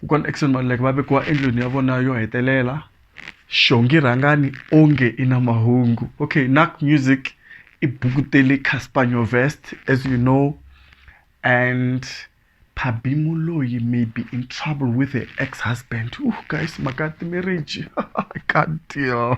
kokwana Eckson Maluleke va vekiwa endlwini ya vona yo hetelela xongi rhangani onge i na mahungu okay nak music i buku tele casper nyovest as you know and phabi muloyi may be in trouble with her ex husband uh guys maka ti-marriage god deal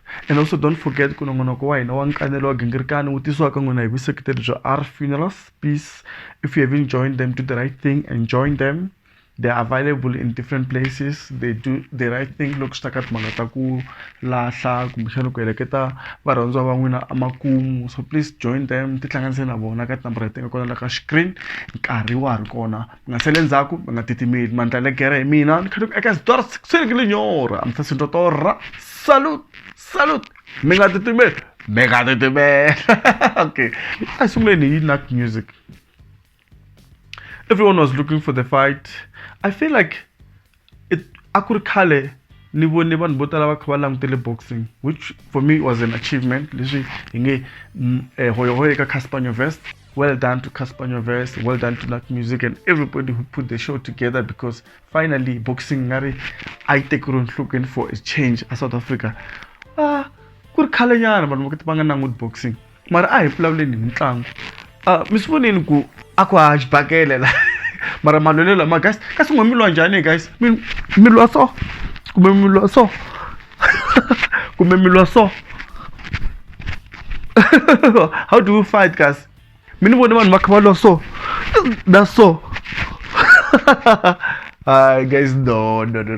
And also don't forget ku nongonoko wa hina wa nkanelo wa gingirikani wu tisiwaka n'wina hi vuseketeri bya r funerals peace if you haven't joined them do the right thing and join them they are available in different places they do the right thing loko swi ta ka timhaka ta ku lahla kumbexana ku heleketa varhandziwa va n'wina emakumu so please join them tihlanganise na vona ka tinambara leti nga kona la ka screen nkarhi wa ha ri kona mi nga sali endzhaku mi nga titimeli mandla le gere hi mina ni kha ni ku eka xitori sikuseni ke linyora mi sasi nto torra salut salut mi nga titimeli mi nga titimela okay a hi sunguleni hi nak music everyone was looking for the fight i feel like a ku ri khale ni vone vanhu vo tala va kha va langutele boxing which for me was an achievement leswi hi nge mm, eh, hoyohoyo eka casper nyovest well done to casper nyovest well done to nut music and everybody who put the show together because finally boxing nga ri a yi tekeriwe nhlokweni for a change a south africa a ah, ku ri khalenyana vanhu va va nga languti boxing mara a hi vulavuleni hi mitlangu Ah, mi swi vonile ku a ku ha xibakele la mara malwelo lama guys kasi n'we mi lwa njhani guys mi mi lwa so kumbe mi lwa so kumbe mi lwa so how do you fight kasi mi ni vone vanhu va kha va lwa so na so Hi guys, no, no, no.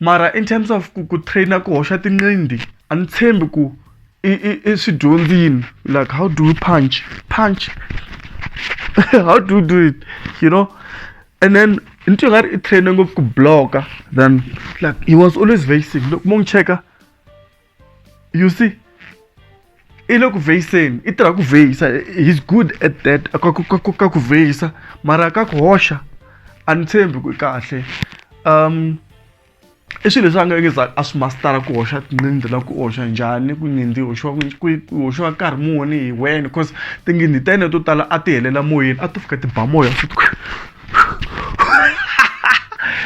mara in terms of ku ku trainer ku hoxa tinqindi a ni tshembi ku i i i swi dyondzini like how do you punch punch how do you do it you know and then into nga ri i trainer ngopfu ku bloka then like he was always vacing loko mo n'wi cheka you see i le ku vheyiseni i tirha ku vheyisa he's good at that ka ku vheyisa mara ka ku hoxa a ni tshembi ku kahle um i swilo leswi a nga nge za a swi mastara ku hoxa tinqindi la ku hoxa njhani ku nyindi hoxiwa ku hoxiwa nkarhi muni hi wena because tinghindi ta yena to tala a ti helela moyeni a to fika ti ba moya futhi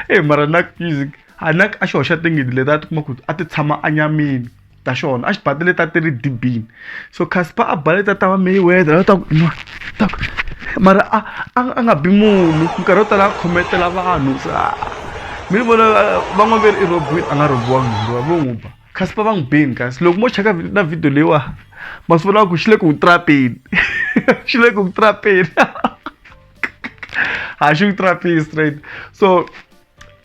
e mara na music a na a xi hoxa tingidi leti a ti kuma ku a ti tshama anyamini ta xona a xi bate leti a ti ri dibini so casper a ba leti a ta va mayweather a ta ku inwa ta ku mara a a a nga bi munhu nkarhi wo tala a khometela vanhu se a mi ni vona van'wana ve ri i robiwile a nga robiwangi munhu lowa vo n'wi ba casper va n'wi beni kasi loko mo cheka na video leyiwa ma swi vulaka ku xi le ku n'wi trapeni xi le ku n'wi trapeni a xi n'wi trapini straight so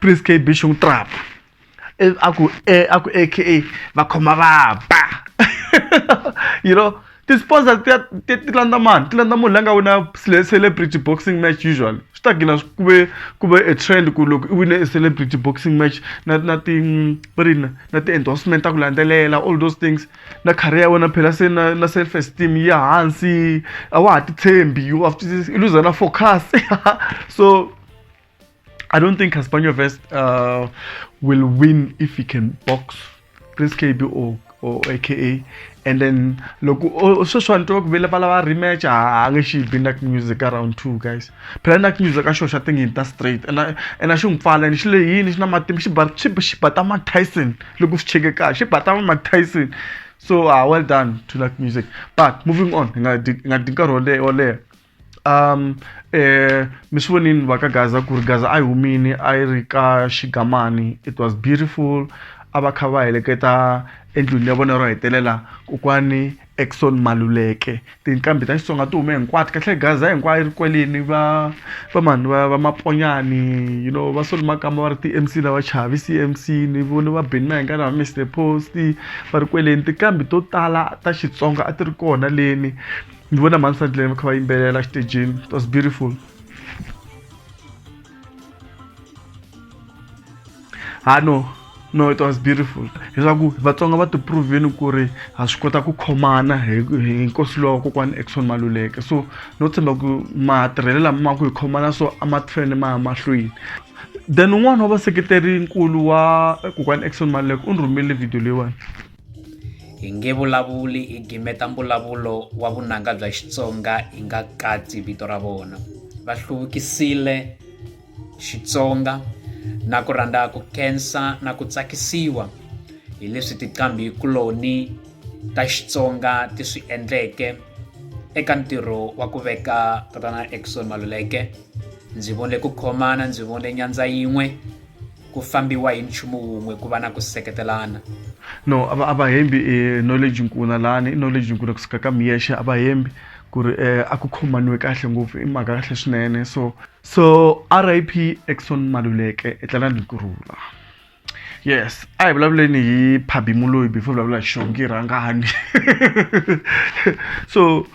prince kb xung trap e, a ku e, a ku aka va khoma vaba you know ti-sponsor ti ti landza mani ti landza munhu la nga wina celebrity boxing match usually swi ta gina ku ve ku ve a trend ku loko i wine a celebrity boxing match na na ti va ri na ti-endorsement ta ku landzelela all those things na career ya wena phela se na na self esteem ya hansi a wa ha titshembi u luza na focus so I don't think Castaño Vest uh, will win if he can box Prince Kabi or or aka and then loko oh, sweswi vanhu tiva ku vele va lava rematch a ah, nge xi bi nak music around two guys phela nak music a xo xa tingi ta straight and and a xi n'wi pfala and xi le yini xi na matimba xi ba xi xi bata ma Tyson loko swi cheke kahle xi bata ma Tyson so uh, well done to nak music but moving on nga nga dinkarhi wo leha um eh, mi swi vonini va ka gaza ku ri gaza a yi humini a yi ri ka xigamani it was beautiful a va kha va heleketa endlwini ya vona ro hetelela kokwani exon maluleke tinqambi ta xitsonga ti hume hinkwato kahle gaza hinkwayo yi ri kwelini va va mani va va maponyani you know va soli makamba va ri ti-mc lava chavi cmc ni voni va beni mahengana va mr post va ri kweleni tinqambi to tala ta xitsonga a ti ri kona leni Ni vona mhani Sandile va kha va yimbelela exitejini. It was beautiful. Ha no no it was beautiful leswaku vatsonga va tiprovini ku ri ha swi kota ku khomana hi hi nkosi lowa kokwana exon maluleke so no tshemba ku matirhelo lama ma ku hi khomana so a ma fanele ma ya mahlweni then un'wana wa vaseketeri nkulu wa kokwana exon maluleke u ni rhumile video leyiwani hi nge vulavuli hi gimeta mbulavulo wa vunanga bya Xitsonga hi nga katsi vito ra vona va hluvukisile Xitsonga na ku rhandza ku khensa na ku tsakisiwa hi leswi tiqambi kuloni ta Xitsonga ti swi endleke eka ntirho wa ku veka tatana Eckson Maluleke ndzi vone ku khomana ndzi vone nyandza yin'we ku fambiwa hi nchumu wun'we ku va na ku seketelana no a va a va hembi e knowledge nkuna lani i knowledge nkuna kusuka ka miyexe a va hembi ku ri um a ku khomaniwe kahle ngopfu i mhaka kahle swinene so so r i p exon maluleke etlela ni kurula yes a hi vulavuleni hi phabimuloyi before vulavula hi xongi rhangani so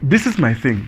this is my thing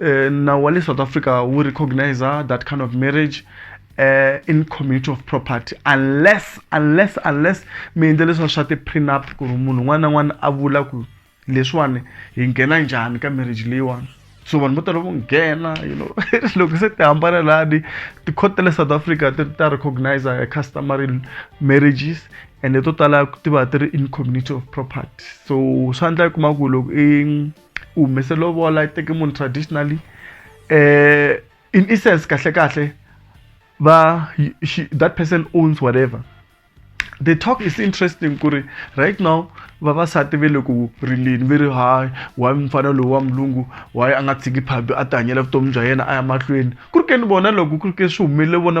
uh, nawu wa le south africa wu recognizer that kind of marriage uh, in community of property unless unless unless mi endle leswiwa swa ti-prenup ku ri munhu un'wana na un'wana a vula ku leswiwani hi nghena njhani ka marriage leyiwani so vanhu vo tala vo nghena you know loko se ti hambana lani tikhoti ta le south africa ti ta recognizer customary marriages ende to tala ti va ti ri in community of property so swa endla yi kuma ku loko i u humese lovola i teke munhu traditionally um in essence kahle kahle va she, that person owns whatever the talk is interesting ku ri right now vavasati ve le ku rileni ve ri hayi why mufana lowu wa mulungu why a nga tshiki phabi a ti hanyela vutomi bya yena a ya mahlweni ku ri ke ni vona loko ku ri ke swi humelele vona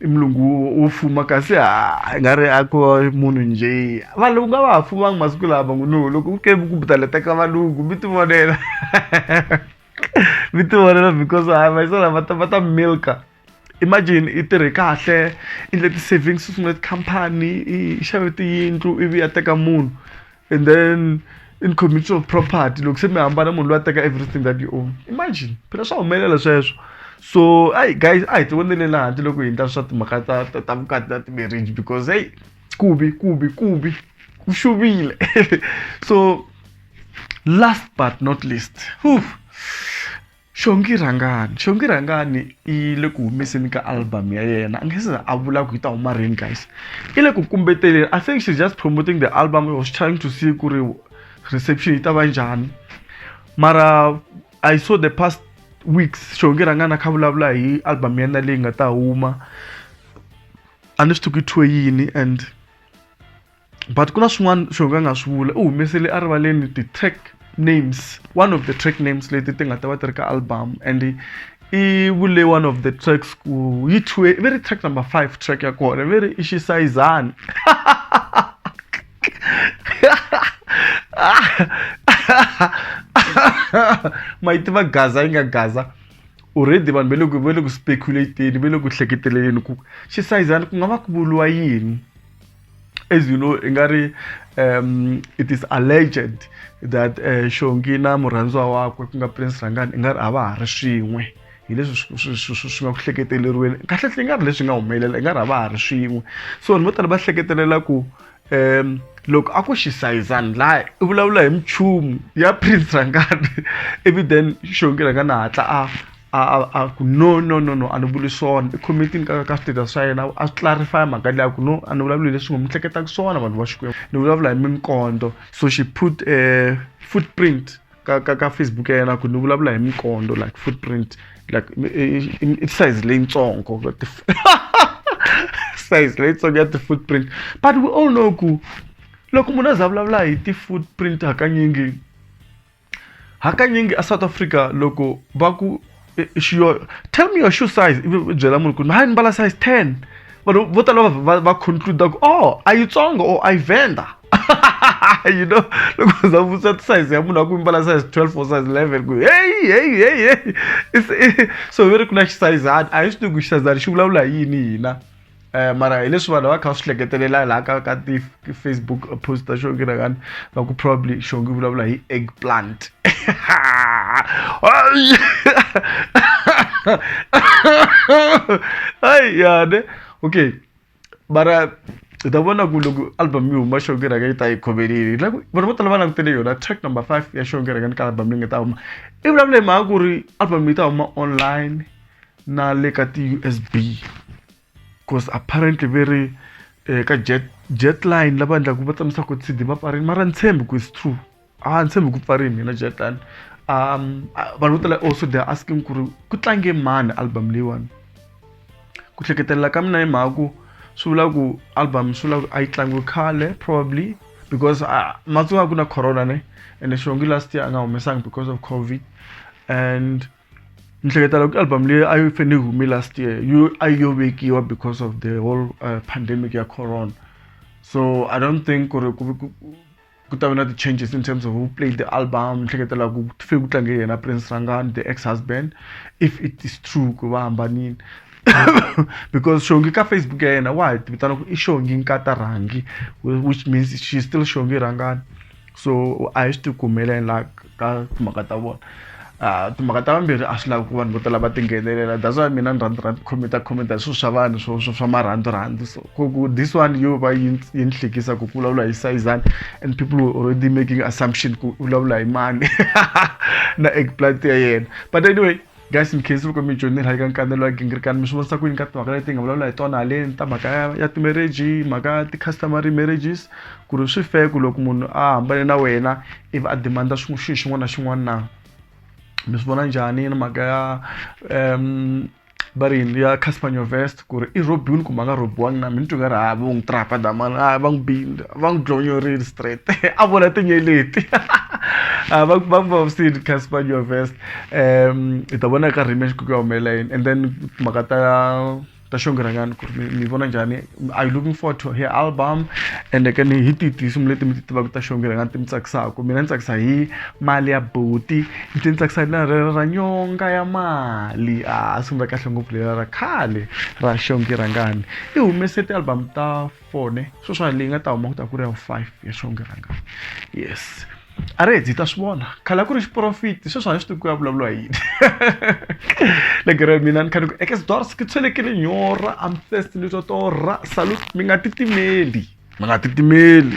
i mulungu wo- wo fuma kasi ha- i nga ri a ko munhu njhe valungu a va ha fumangi masiku lama ngo no loko u ke ku butaleta ka valungu mi ti vonela mi ti vonela because a va isala va ta va ta milka imagine i tirhe kahle i endle ti-savings u sungule tikhampani i i xave tiyindlu ivi a teka munhu and then in community of property loko se mi hambana munhu loyi a teka everything that you own imagine phela swa humelela sweswo so ai guys a hi ti voneleni handle loko hi ndla swa timhaka ta ta ta vukati na ti-marriage because heyi ku bi ku bi ku bi ku xuvile so last but not least whew, Xongi Rhangani Xongi Rhangani i le ku humeseni ka album ya yena a nge se a vula ku yi ta huma rini guys i le ku kumbeteleni i think she's just promoting the album was trying to see ku ri reception yi ta va njhani mara i saw the past weeks Xongi Rhangani a kha vulavula hi album ya yena leyi nga ta huma a ni swi tivi ku yi thyiwe yini and but ku na swin'wana swo ka nga swi vula u humesele erivaleni ti-track names one of the track names leti ti nga ta va ti ri ka album and i vule one of the tracks ku yi thwe ve ri track number five track ya kona ve ri i xisayizani ma yi tiva gaza yi nga gaza already vanhu va le ku va le ku speculateni va le ku hleketeleleni ku xisayizana ku nga va ku vuriwa yini as you know i nga ri um it is alleged that uh, shongi na murhandziwa wakwe ku nga prince rangani i nga ri a va ha ri swin'we hi leswi swi nga ku hleketeleriweni kahlekahle i nga ri leswi nga humelela i nga ri a va ha ri swin'we so vanhu vo tala va hleketelela ku um loko a ku xisayizani laha i vulavula hi minchumu ya prince rangani ivi then xongi rangani a hatla a a a a ku no no no no a ni vuli swona i committee ka ka status swa yena a swi clarify mhaka liya ku no a ni vulavuli leswi ngo mi hleketaka swona vanhu va Xikwembu ni vulavula hi minkondo so she put a footprint ka ka ka Facebook ya yena ku ni vulavula hi minkondo like footprint like i size leyitsongo size leyitsongo ya ti-footprint but we all know ku loko munhu a za vulavula hi ti-footprint hakanyingi hakanyingi a south africa loko va ku eh, xiyo tell me your shoe size ivi u byela munhu ku hayi ni mbala size ten vanhu vo tala va- va va concluda ku oh a yitsongo or a yi venda you know loko za vutisa size ya munhu a ku i mbala size 12 or size 11 ku hey hey hey hey It's- so ve ri ku na xisayizani a hi swi tivi ku xisayizani xi vulavula hi yini hina Eh, mara hi leswi vanhu va kha va swi hleketelela laha ka ka ti-facebook post ta xongi rakani va ku probably xongi vulavula hi egg plant ai yane okay mara hi ta vona ku loko album yi huma xongi raka yi ta yi khomelini like vanhu vo tala va langutele yona track number five ya xongi rakani ka album leyi nga ta huma i vulavula hi mhaka ku ri album yi ta huma online na le ka ti-U_S_B coz apparently ve ri ka jet jet line lava endlaku va tshamisa ku T_D mapatwini mara a ni tshembi ku it's true a ni tshembi ku pfari mina jet line vanhu vo tala also they are asking ku ri ku tlange mani album leyiwani ku hleketelela ka mina hi mhaka ku swi vula ku album swi vula ku a yi tlangiwe khale probably because a ma tsonga ku na corona ne ene xihongi last year a nga humesanga because of COVID and. ni hleketa loko album leyi a yi fanele yi hume last year yo a yi yo vekiwa because of the whole uh, pandemic ya corona so i don't think ku ri ku ta va na ti-changes in terms of who played the album ni hleketela ku fe ku tlange yena prince rangani the ex husband if it is true ku va hambanile because shongi ka facebook ya yena wa hi vitana ku i shongi nkata rhangi which means she's still shongi rangani so a hi swi ti kumela and like ka timhaka ta vona a timhaka ta vambirhi a swi lavi ku vanhu vo tala va tinghenelela that's why mina ni rhandza rhandza khometa khometa hi swilo swa vanhu swo swo swa marhandzu rhandzu so ku ku this one yo va yi yi ni hlekisa ku ku vulavula hi sayizani and people were already making assumption ku u vulavula hi mani na eggplant ya yena but anyway guys in case loko mi joinile hi ka nkanelo wa gingirikani mi swi vonisa ku yini ka timhaka leti nga vulavula hi tona haleni ta mhaka ya, ya timarriage mhaka ya ti-customary marriages ku ri swi fair ku loko munhu a hambane na wena ivi a demanda xilo xin'wana na xin'wana na mi swi vona njhani na mhaka ya um va ri yini ya casper nyovest ku ri i rhobiwile kumbe a nga rhobiwangi na mini ni tweke ri ha vo n'wi trapa damani a va n'wi bile va n'wi dlonyorile straight a vona tinyeleti a va va n'wi vavisile casper your vest um hi ta vona eka rematch ku ku ya humelela yini and then timhaka ta ta xongiranyana ku ri mi mi vona njhani are you looking forward to her album and ke ni hi tihi tinsimu leti mi ti tivaka ta xongiranyana ti mi tsakisaka mina ni tsakisa hi mali ya buti Ndzi tsakisa hi leri ra nyonga ya mali a sungula kahle ngopfu leri ra khale ra xongi rhangani i humese ti-album ta four ne sweswiwa leyi nga ta huma ku ta ku ri ya vu five ya xongi rhangani yes a ri heta hi ta swi vona khale a ku ri xiporofita sweswi a ni swi tivi ku ya vulavuriwa hi yini legere mina ni kha ni ku eke sdors ke tswelekele nyora I'm thirsty ni twa torha salute mi nga titimeli. mi nga titimeli